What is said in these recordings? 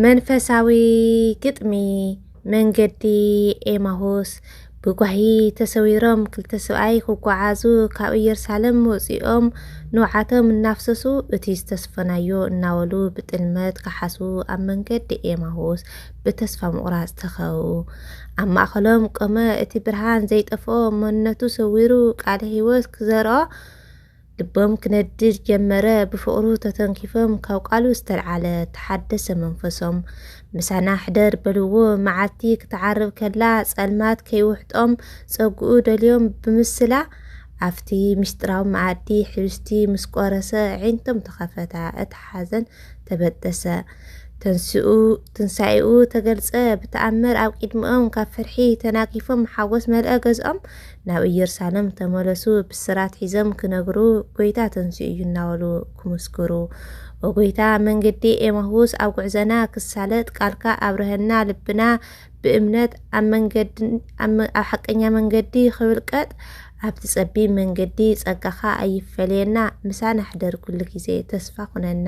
መንፈሳዊ ግጥሚ መንገዲ ኤማሁስ ብጓሂ ተሰዊሮም ክልተ ሰብኣይ ክጓዓዙ ካብ ኢየሩሳሌም ወፂኦም ንውዓቶም እናፍሰሱ እቲ ዝተስፈናዮ እናበሉ ብጥልመት ከሓሱ ኣብ መንገዲ ኤማሁስ ብተስፋ ምቑራፅ ተኸው ኣብ ማእኸሎም ቆመ እቲ ብርሃን ዘይጠፍኦ መንነቱ ሰዊሩ ቃለ ህይወት ክዘርኦ ልቦም ክነድድ ጀመረ ብፍቕሩ ተተንኪፎም ካብ ቃሉ ዝተልዓለ ተሓደሰ መንፈሶም ምሳና ሕደር በልዎ መዓልቲ ክትዓርብ ከላ ጸልማት ከይውሕጦም ጸግኡ ደልዮም ብምስላ ኣብቲ ምስጢራዊ መኣዲ ሕብስቲ ምስ ቆረሰ ዒንቶም ተኸፈታ እቲ ሓዘን ተበጠሰ ተንስኡ ትንሳኤኡ ተገልጸ ብተኣምር ኣብ ቂድሚኦም ካብ ፍርሒ ተናጊፎም ሓጎስ መልአ ገዝኦም ናብ ኢየሩሳለም ተመለሱ ብስራት ሒዘም ክነግሩ ጎይታ ተንሲኡ እዩ እናበሉ ክምስክሩ ወጎይታ መንገዲ ኤማሁስ ኣብ ጉዕዘና ክሳለጥ ቃልካ ኣብረሀና ልብና ብእምነት ኣብ መንገዲ ኣብ ሓቀኛ መንገዲ ክብልቀጥ ኣብቲ ጸቢብ መንገዲ ጸጋኻ ኣይፈለየና ምሳና ሕደር ኩሉ ግዜ ተስፋ ኩነና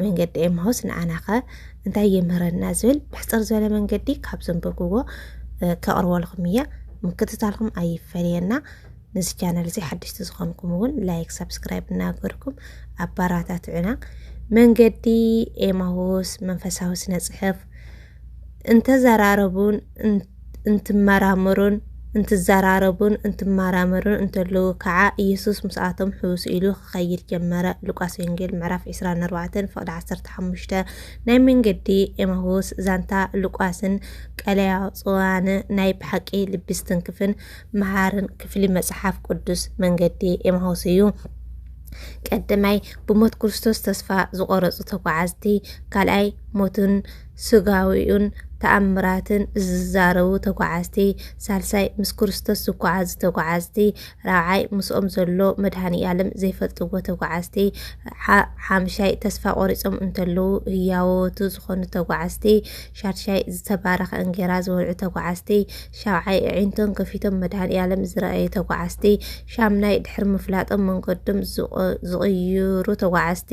መንገዲ ኤማሁስ ንኣናኸ እንታይ የምህረና ዝብል ብሕፅር ዝበለ መንገዲ ካብ ዘንበብዎ ከቕርበልኹም እየ ምክትታልኩም ኣይፈለየና ነዚ ቻናል እዚ ሓደሽቲ ዝኾንኩም እውን ላይክ ሳብስክራይብ እናገርኩም ኣባራታትዑና መንገዲ ኤማሁስ መንፈሳዊ ስነ ፅሑፍ እንተዘራረቡን እንትመራመሩን እንትዘራረቡን እንትመራመሩን እንተለዉ ከኣ ኢየሱስ ምስኣቶም ሕውስ ኢሉ ክኸይድ ጀመረ። ሉቃስ ወንጌል ምዕራፍ ዕስራን ኣርባዕተን ፍቕዲ ዓሰርተ ሓሙሽተ ናይ መንገዲ ኤማሁስ ዛንታ ሉቃስን ቀለያጽዋን ናይ ብሓቂ ልቢ ዝትንክፍን መሃርን ክፍሊ መጽሓፍ ቅዱስ መንገዲ ኤማሁስ እዩ። ቀዳማይ ብሞት ክርስቶስ ተስፋ ዝቖረጹ ተጓዓዝቲ፣ ካልኣይ ሞቱን ሥጋዌኡን ተኣምራትን ዚዛረቡ ተጓዓዝቲ፣ ሣልሳይ ምስ ክርስቶስ ዚጓዓዙ ተጓዓዝቲ፣ ራብዓይ ምስኦም ዘሎ መድኃኒኣለም ዘይፈልጥዎ ተጓዓዝቲ፣ ሓምሻይ ተስፋ ቆሪጾም እንተለዉ ህያዎቱ ዝኾኑ ተጓዓዝቲ፣ ሻድሻይ ዝተባረኸ እንጌራ ዝበልዑ ተጓዓዝቲ፣ ሻብዓይ ኣዒንቶም ከፊቶም መድኃኒኣለም ዝረኣዩ ተጓዓዝቲ፣ ሻምናይ ድሕሪ ምፍላጦም መንገዶም ዝቕይሩ ተጓዓዝቲ፣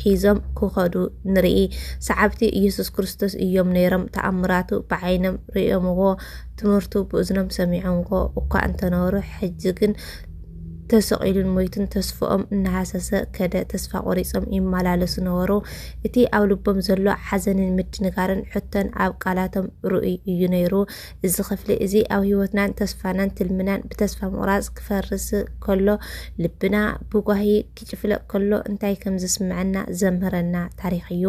ሒዞም ክኸዱ ንርኢ። ሰዓብቲ ኢየሱስ ክርስቶስ እዮም ነይሮም። ተኣምራቱ ብዓይኖም ርእዮምዎ፣ ትምህርቱ ብእዝኖም ሰሚዖምዎ እኳ እንተነበሩ ሕጂ ግን ተሰቒሉን ሞይቱን ተስፍኦም እናሃሰሰ ከደ ተስፋ ቆሪጾም ይመላለሱ ነበሩ እቲ ኣብ ልቦም ዘሎ ሓዘንን ምድንጋርን ሕቶን ኣብ ቃላቶም ርኡይ እዩ ነይሩ እዚ ክፍሊ እዚ ኣብ ህይወትናን ተስፋናን ትልምናን ብተስፋ ምቑራጽ ክፈርስ ከሎ ልብና ብጓሂ ኪፍለጥ ከሎ እንታይ ከም ዝስምዐና ዘምህረና ታሪኽ እዩ።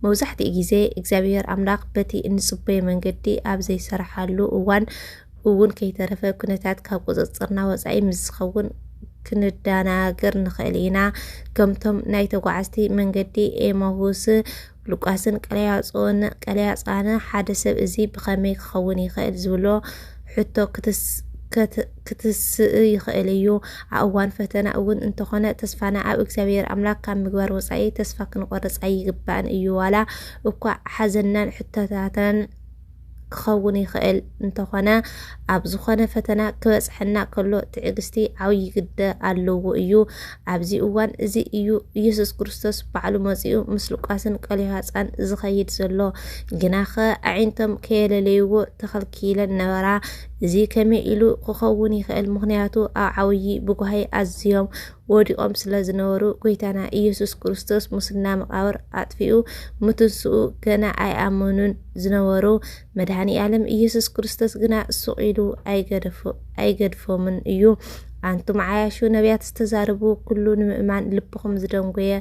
መብዛሕትኡ ግዜ እግዚኣብሄር ኣምላኽ በቲ እንጽበዮ መንገዲ ኣብ ዘይሰርሓሉ እዋን እውን ከይተረፈ ኩነታት ካብ ቁጽጽርና ወጻኢ ምስ ዝኸውን ክንደናገር ንኽእል ኢና። ከምቶም ናይ ተጓዓዝቲ መንገዲ ኤማሁስ ሉቃስን ቀለያጾን፣ ቀለያጻነ፣ ሓደ ሰብ እዚ ብኸመይ ክኸውን ይኽእል ዝብሎ ሕቶ ክትስእ ይኽእል እዩ። ኣብ እዋን ፈተና እውን እንተኾነ ተስፋና ኣብ እግዚኣብሔር ኣምላክ ካብ ምግባር ወፃኢ ተስፋ ክንቆርፅ ኣይግባእን እዩ። ዋላ እኳ ሓዘናን ሕቶታትናን ክኸውን ይኽእል እንተኾነ ኣብ ዝኾነ ፈተና ክበጽሐና ከሎ ትዕግስቲ ዓብዪ ግደ ኣለዎ እዩ። ኣብዚ እዋን እዚ እዩ ኢየሱስ ክርስቶስ ባዕሉ መጺኡ ምስ ሉቃስን ቀሌዮሃፃን ዝኸይድ ዘሎ። ግናኸ ኣዒንቶም ከየለለይዎ ተኸልኪለን ነበራ። እዚ ከመይ ኢሉ ክኸውን ይኽእል? ምክንያቱ ኣብ ዓብዪ ብጓሂ ኣዝዮም ወዲቖም ስለ ዝነበሩ ጎይታና ኢየሱስ ክርስቶስ ሙስና መቓብር ኣጥፊኡ ምትንስኡ ገና ኣይኣመኑን ዝነበሩ መድኃኒ ዓለም ኢየሱስ ክርስቶስ ግና ሱቕ ኢሉ ኣይገድፎምን እዩ። ኣንቱም ዓያሹ ነቢያት ዝተዛረቡ ኩሉ ንምእማን ልብኹም ዝደንጎየ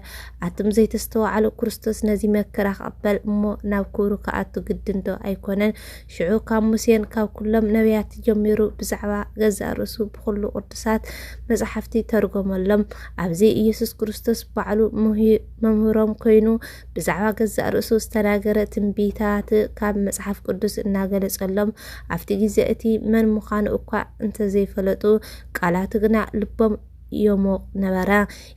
ኣቱም ዘይተስተዋዓሉ ክርስቶስ ነዚ መከራ ክቕበል እሞ ናብ ክብሩ ክኣቱ ግድንዶ ኣይኮነን? ሽዑ ካብ ሙሴን ካብ ኩሎም ነቢያት ጀሚሩ ብዛዕባ ገዛእ ርእሱ ብኹሉ ቅዱሳት መጽሓፍቲ ተርጎመሎም። ኣብዚ ኢየሱስ ክርስቶስ ባዕሉ መምህሮም ኮይኑ ብዛዕባ ገዛእ ርእሱ ዝተናገረ ትንቢታት ካብ መጽሓፍ ቅዱስ እናገለጸሎም ኣብቲ ግዜ እቲ መን ምዃኑ እኳ እንተዘይፈለጡ ቃላቱ ግና ልቦም የሞቕ ነበረ።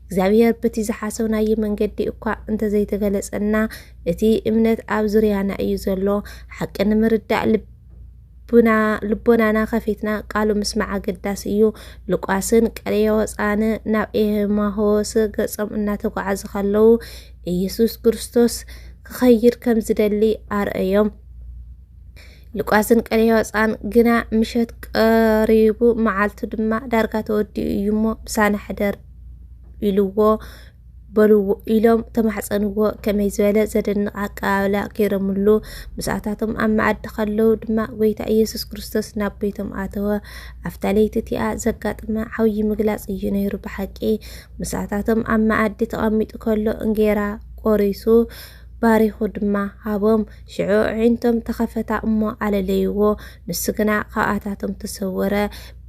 እግዚኣብሔር በቲ ዝሓሰብናዩ መንገዲ እኳ እንተዘይተገለጸና እቲ እምነት ኣብ ዙርያና እዩ ዘሎ። ሓቂ ንምርዳእ ልቦናና ከፊትና ቃሉ ምስማዕ ኣገዳሲ እዩ። ሉቃስን ቀሌዮወፃን ናብ ኤማሆስ ገጾም እናተጓዓዙ ከለዉ ኢየሱስ ክርስቶስ ክኸይድ ከም ዝደሊ ኣርእዮም። ልቋስን ቀለዮፃን ግና ምሸት ቀሪቡ መዓልቱ ድማ ዳርጋ ተወዲኡ እዩ እሞ ምሳና ሕደር ኢልዎ በልዎ ኢሎም ተማሕፀንዎ ከመይ ዝበለ ዘደንቕ ኣቀባብላ ገይረምሉ ምስኣታቶም ኣብ መኣዲ ከለዉ ድማ ጎይታ ኢየሱስ ክርስቶስ ናብ ቤቶም ኣተወ ኣብታ ለይቲ እቲኣ ዘጋጥመ ዓብዪ ምግላፅ እዩ ነይሩ ብሓቂ ምስኣታቶም ኣብ መኣዲ ተቐሚጡ ከሎ እንጌራ ቆሪሱ ባሪኹ ድማ ሃቦም። ሽዑ ኣዒንቶም ተኸፈታ እሞ ኣለለይዎ፣ ንሱ ግና ካብኣታቶም ተሰወረ።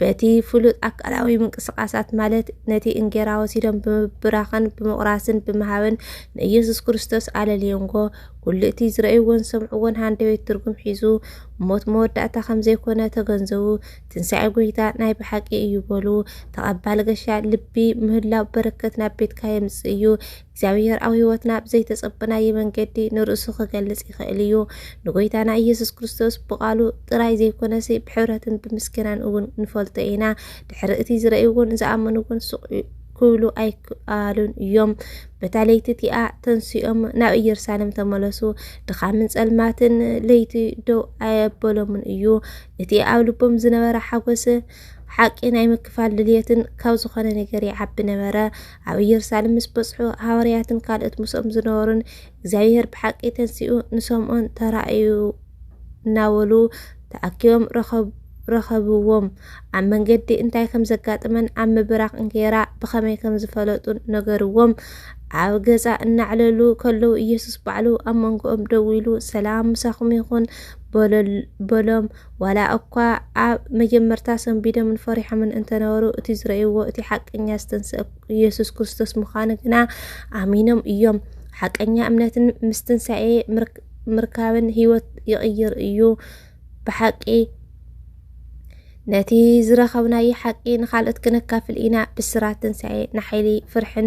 በቲ ፍሉጥ ኣካላዊ ምንቅስቓሳት ማለት ነቲ እንጌራ ወሲዶም ብምብራኽን ብምቑራስን ብምሃብን ንኢየሱስ ክርስቶስ ኣለልዮንጎ። ኩሉ እቲ ዝረእይዎን ዝሰምዕዎን ሃንደበት ትርጉም ሒዙ ሞት መወዳእታ ከም ዘይኮነ ተገንዘቡ። ትንሣኤ ጎይታ ናይ ብሓቂ እዩ በሉ። ተቐባሊ ገሻ ልቢ ምህላው በረከት ናብ ቤትካ የምጽእ እዩ። እግዚኣብሔር ኣብ ሕይወትና ብዘይተጸበናዮ መንገዲ ንርእሱ ክገልጽ ይኽእል እዩ። ንጎይታና ኢየሱስ ክርስቶስ ብቓሉ ጥራይ ዘይኮነሲ ብሕብረትን ብምስገናን እውን ንፈልጦ ኢና። ድሕሪ እቲ ዝረእይዎን ዝኣመንዎን ሱቕ ክብሉ ኣይክኣሉን እዮም። በታ ለይቲ እቲኣ ተንሲኦም ናብ ኢየሩሳሌም ተመለሱ። ድኻምን ጸልማትን ለይቲ ደው ኣየበሎምን እዩ። እቲ ኣብ ልቦም ዝነበረ ሓጎስ ሓቂ ናይ ምክፋል ድልየትን ካብ ዝኾነ ነገር ይዓቢ ነበረ። ኣብ ኢየሩሳሌም ምስ በጽሑ ሃዋርያትን ካልኦት ምስኦም ዝነበሩን እግዚኣብሔር ብሓቂ ተንስኡ ንሰምኦን ተራእዩ እናበሉ ተኣኪቦም ረኸብዎም። ኣብ መንገዲ እንታይ ከም ዘጋጥመን ኣብ ምብራኽ እንጌራ ብኸመይ ከም ዝፈለጡን ነገርዎም። ኣብ ገዛ እናዕለሉ ከለዉ ኢየሱስ ባዕሉ ኣብ መንጎኦም ደው ኢሉ ሰላም ምሳኹም ይኹን በሎም። ዋላ እኳ ኣብ መጀመርታ ሰንቢዶምን ፈሪሖምን እንተነበሩ እቲ ዝረእይዎ እቲ ሓቀኛ ዝተንስእ ኢየሱስ ክርስቶስ ምዃኑ ግና ኣሚኖም እዮም። ሓቀኛ እምነትን ምስ ትንሳኤ ምርካብን ህይወት ይቕይር እዩ። ብሓቂ ነቲ ዝረኸብናዮ ሓቂ ንኻልኦት ክነካፍል ኢና። ብስራት ትንሳኤ ንሓይሊ ፍርሕን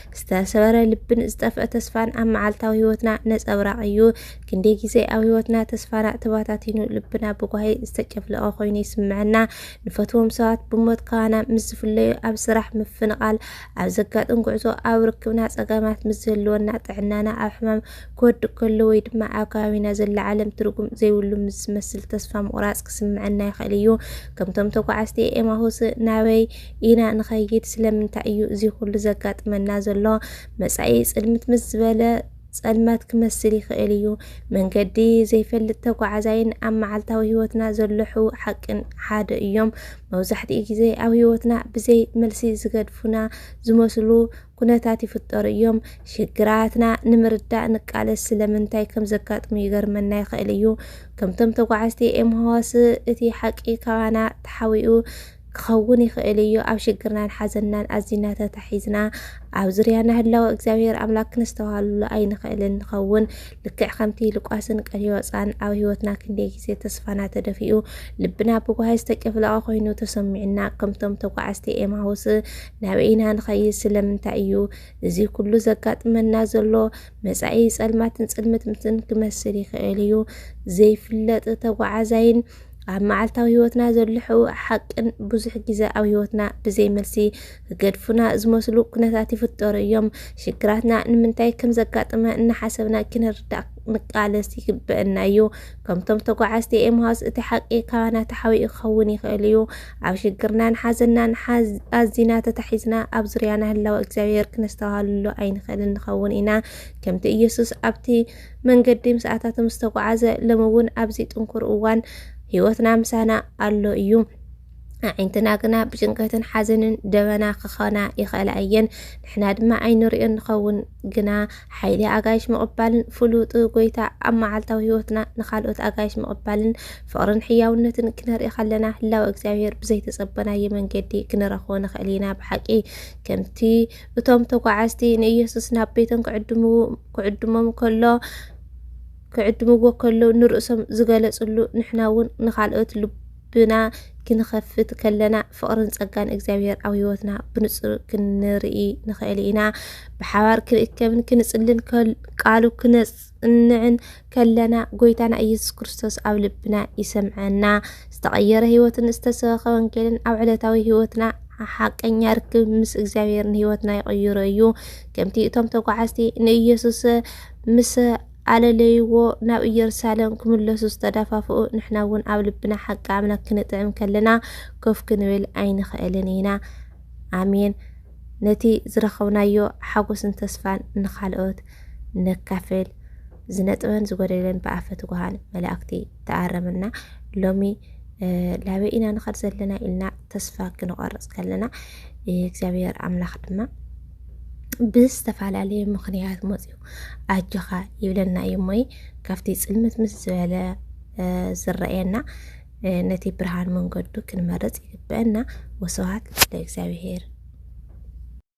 ዝተሰበረ ልብን ዝጠፍአ ተስፋን ኣብ መዓልታዊ ህይወትና ነጸብራቕ እዩ። ክንደይ ግዜ ኣብ ህይወትና ተስፋና ተባታቲኑ ልብና ብጓሂ ዝተጨፍለቐ ኮይኑ ይስምዐና። ንፈትዎም ሰባት ብሞት ካባና ምስ ዝፍለዩ፣ ኣብ ስራሕ ምፍንቓል፣ ኣብ ዘጋጥም ጉዕዞ፣ ኣብ ርክብና ጸገማት ምስ ዝህልወና፣ ጥዕናና ኣብ ሕማም ክወድቅ ከሎ ወይ ድማ ኣብ ከባቢና ዘላ ዓለም ትርጉም ዘይብሉ ምስ ዝመስል ተስፋ ምቑራጽ ክስምዐና ይኽእል እዩ። ከምቶም ተጓዓዝቲ ኤማሁስ ናበይ ኢና ንኸይድ ስለምንታይ እዩ እዚ ኩሉ ዘጋጥመና ዘሎ መጻኢ ጽልምት ምስ ዝበለ ጸልማት ክመስል ይኽእል እዩ መንገዲ ዘይፈልጥ ተጓዓዛይን ኣብ መዓልታዊ ህይወትና ዘሎ ሕው ሓቅን ሓደ እዮም መብዛሕትኡ ግዜ ኣብ ህይወትና ብዘይ መልሲ ዝገድፉና ዝመስሉ ኩነታት ይፍጠሩ እዮም ሽግራትና ንምርዳእ ንቃለስ ስለምንታይ ከም ዘጋጥሙ ይገርመና ይኽእል እዩ ከምቶም ተጓዓዝቲ ኤምሃዋስ እቲ ሓቂ ካባና ተሓዊኡ ክኸውን ይኽእል እዩ። ኣብ ሽግርናን ሓዘንናን ኣዚና ተታሒዝና ኣብ ዙርያና ህላወ እግዚኣብሔር ኣምላክ ክንስተውሃልሉ ኣይንኽእልን ንኸውን። ልክዕ ከምቲ ልቋስን ቀሊዮፃን ኣብ ህይወትና ክንደይ ግዜ ተስፋና ተደፊኡ ልብና ብጓሂ ዝተጨፍለቐ ኮይኑ ተሰሚዑና ከምቶም ተጓዓዝቲ ኤማሁስ ናበይ ኢና ንኸይድ? ስለምንታይ እዩ እዚ ኩሉ ዘጋጥመና ዘሎ? መጻኢ ጸልማትን ጽልምትምትን ክመስል ይኽእል እዩ። ዘይፍለጥ ተጓዓዛይን ኣብ መዓልታዊ ህይወትና ዘልሑ ሓቅን ብዙሕ ግዜ ኣብ ህይወትና ብዘይ መልሲ ክገድፉና ዝመስሉ ኩነታት ይፍጠሩ እዮም። ሽግራትና ንምንታይ ከም ዘጋጥመ እናሓሰብና ክንርዳእ ንቃለስ ይግበአና እዩ ከምቶም ተጓዓዝቲ ኤምሃስ እቲ ሓቂ ካባና ተሓቢኡ ክኸውን ይኽእል እዩ ኣብ ሽግርናን ሓዘናን ኣዚና ተታሒዝና ኣብ ዙርያና ህላወ እግዚኣብሔር ክነስተውሃልሉ ኣይንኽእልን ንኸውን ኢና ከምቲ ኢየሱስ ኣብቲ መንገዲ ምስኣታቶም ዝተጓዓዘ ሎሚ እውን ኣብዚ ጥንኩር እዋን ህይወትና ምሳና ኣሎ እዩ። ኣዒንትና ግና ብጭንቀትን ሓዘንን ደበና ክኾና ይኽእላ እየን። ንሕና ድማ ኣይንሪኦን ንኸውን። ግና ሓይሊ ኣጋይሽ ምቕባልን ፍሉጥ ጎይታ ኣብ መዓልታዊ ህይወትና ንካልኦት ኣጋይሽ ምቕባልን ፍቕርን ሕያውነትን ክነርኢ ከለና ህላወ እግዚኣብሔር ብዘይተጸበናዮ መንገዲ ክንረኽቦ ንኽእል ኢና። ብሓቂ ከምቲ እቶም ተጓዓዝቲ ንኢየሱስ ናብ ቤቶም ክዕድሞም ከሎ ክዕድምዎ ከለዉ ንርእሶም ዝገለጽሉ ንሕና እውን ንካልኦት ልብና ክንኸፍት ከለና ፍቕርን ጸጋን እግዚኣብሔር ኣብ ህይወትና ብንጹር ክንርኢ ንኽእል ኢና። ብሓባር ክንእከብን ክንጽልን ቃሉ ክነጽ ክንጽንዕን ከለና ጎይታና ኢየሱስ ክርስቶስ ኣብ ልብና ይሰምዐና። ዝተቐየረ ህይወትን ዝተሰበኸ ወንጌልን ኣብ ዕለታዊ ህይወትና ሓቀኛ ርክብ ምስ እግዚኣብሔርን ህይወትና ይቕይሮ እዩ። ከምቲ እቶም ተጓዓዝቲ ንኢየሱስ ምስ ኣለለይዎ ናብ ኢየሩሳሌም ክምለሱ ዝተደፋፍኡ ንሕና እውን ኣብ ልብና ሓቂ ኣምላክ ክንጥዕም ከለና ኮፍ ክንብል ኣይንኽእልን ኢና። ኣሜን። ነቲ ዝረኸብናዮ ሓጎስን ተስፋን ንኻልኦት ነካፍል ዝነጥበን ዝጎደለን ብኣፈ ትጉሃን መላእክቲ ተኣረምና ሎሚ ላበይ ኢና ንኸድ ዘለና ኢልና ተስፋ ክንቆርፅ ከለና እግዚኣብሔር ኣምላኽ ድማ ብዝተፈላለየ ምክንያት መፅኡ ኣጆኻ ይብለና እዩ እሞይ ካብቲ ፅልምት ምስ ዝበለ ዝረአየና ነቲ ብርሃን መንገዱ ክንመርፅ ይግበአና ወስብሃት ለእግዚኣብሔር